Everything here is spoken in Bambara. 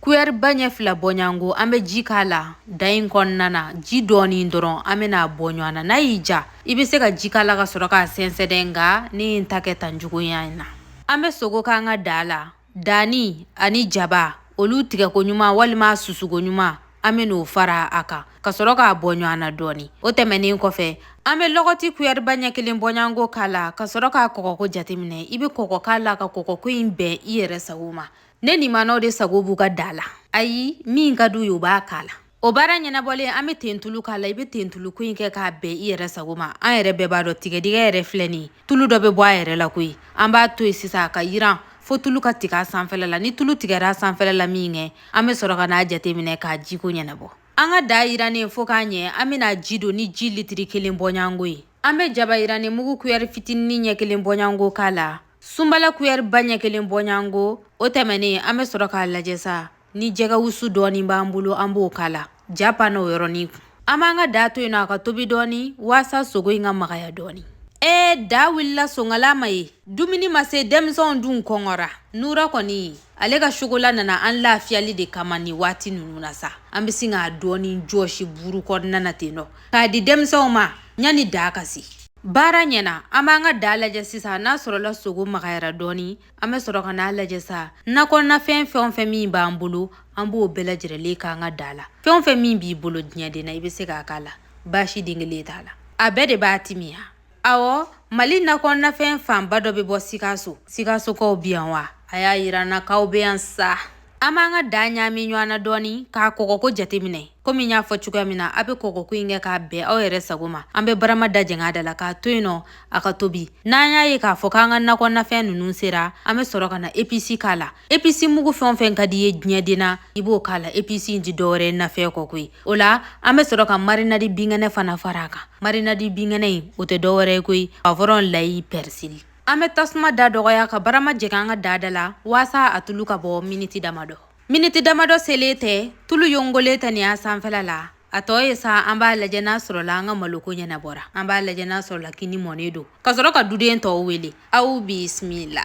kuyɛri ba ɲɛ fila bɔɲɔgɔnko an bɛ ji k'a la daa in kɔnɔna na ji dɔɔni dɔrɔn an bɛn'a bɔ ɲɔgɔn na n'a y'i diya i bɛ se ka ji k'a la ka sɔrɔ k'a sɛnsɛn dɛ nka ne ye n ta kɛ tan cogoya in na an bɛ sogo k'an ka daa la danni ani jaba olu tigɛko ɲuman walima susuko ɲuman an bɛn'o fara a kan ka sɔrɔ k'a bɔ ɲɔgɔn na dɔɔni o tɛmɛnen kɔfɛ an bɛ lɔgɔti kuyɛriba ɲɛ kelen bɔɲɔgɔnko k'a la ka sɔrɔ k'a kɔgɔko jateminɛ i bɛ kɔgɔ k'a la ka kɔgɔko in bɛn i yɛrɛ sago ma ne ni manaw de sago b'u ka daa la ayi min ka di u ye u b'a k'a la o baara ɲɛnabɔlen an bɛ tentulu k'a la i bɛ tentuluko in kɛ k'a bɛn i yɛrɛ sago ma an yɛrɛ bɛɛ b'a dɔn tigadɛgɛ yɛrɛ filɛ nin ye tulu dɔ bɛ bɔ a yɛrɛ la koyi an b'a to yen sisan a ka yiran fo tulu ka tigɛ a sanfɛla la ni tulu tigɛra a sanfɛla la minkɛ an bɛ sɔrɔ ka n'a jateminɛ k'a jiko ɲɛnabɔ an ka daa yirannen fo ka ɲɛ an bɛn'a ji don ni ji litiri kelen bɔɲɔgɔnko ye An bɛ jaba yirannen mugu kuyɛri fitinin ɲɛ kelen bɔɲɔgɔnko k'a la sunbala kuyɛri ba ɲɛ kelen bɔɲɔgɔnko o tɛmɛnen an bɛ sɔrɔ k'a lajɛ sa ni jɛgɛwusu dɔɔnin b'an bolo an b'o k'a la ja pan o yɔrɔnin kun an b'an ka daa to yen nɔ a ka tobi dɔɔnin waasa sogo in ka magaya dɔɔnin ee daa wulila sonkala ma ye dumuni ma se denmisɛnw dun kɔngɔra nura kɔni ale ka sokola nana an lafiyali de kama ni waati ninnu na sa an bɛ sin k'a dɔɔnin jɔsi buru kɔnɔna na ten nɔ k'a di denmisɛnw ma yanni daa ka se baara ɲɛna an b'an ka daa lajɛ sisan n'a sɔrɔla sogo magayara dɔɔni an bɛ sɔrɔ ka n'a lajɛ sa nakɔnafɛn fɛn o fɛn min b'an bolo an b'o bɛɛ lajɛrɛlen k'an ka daa la fɛn o fɛn min b'i bolo diɲɛden na i bɛ se k'a k'a la baasi den kelen t'a la a bɛɛ de b'a timiya Ɔwɔ mali nakɔnafɛn fanba dɔ bɛ bɔ sikaso sikasokaw bɛ yan wa a y'a jira an na k'aw bɛ yan sa an b'an ka daa ɲami ɲɔgɔn na dɔɔnin k'a kɔgɔko jateminɛ komi n y'a fɔ cogoya min na a bɛ kɔgɔko in kɛ k'a bɛn aw yɛrɛ sago ma an bɛ barama da jɛngɛ da la k'a to yen nɔ a ka tobi n'an y'a ye k'a fɔ k'an ka nakɔnafɛn ninnu sera an bɛ sɔrɔ ka na episi k'a la episi mugu fɛn o fɛn ka di i ye diɲɛden na i b'o k'a la episi in tɛ dɔwɛrɛ nafɛn kɔ koyi O la an bɛ sɔrɔ ka marinadi binkɛnɛ fana fara a kan marinadi binkɛnɛ in o tɛ dɔwɛrɛ koyi puwavɔrɔn layi pɛrisili an bɛ tasuma da dɔgɔya ka barama jɛngɛ an ka daa da la waasa a tulu ka bɔ miniti damadɔ miniti damadɔ selen tɛ tulu yongolen tɛ nin y'a sanfɛla la a tɔ ye sa an b'a lajɛ n'a sɔrɔla an ka maloko ɲɛnabɔra an b'a lajɛ n'a sɔrɔla kini mɔnen don ka sɔrɔ ka duden tɔw wele aw bisimila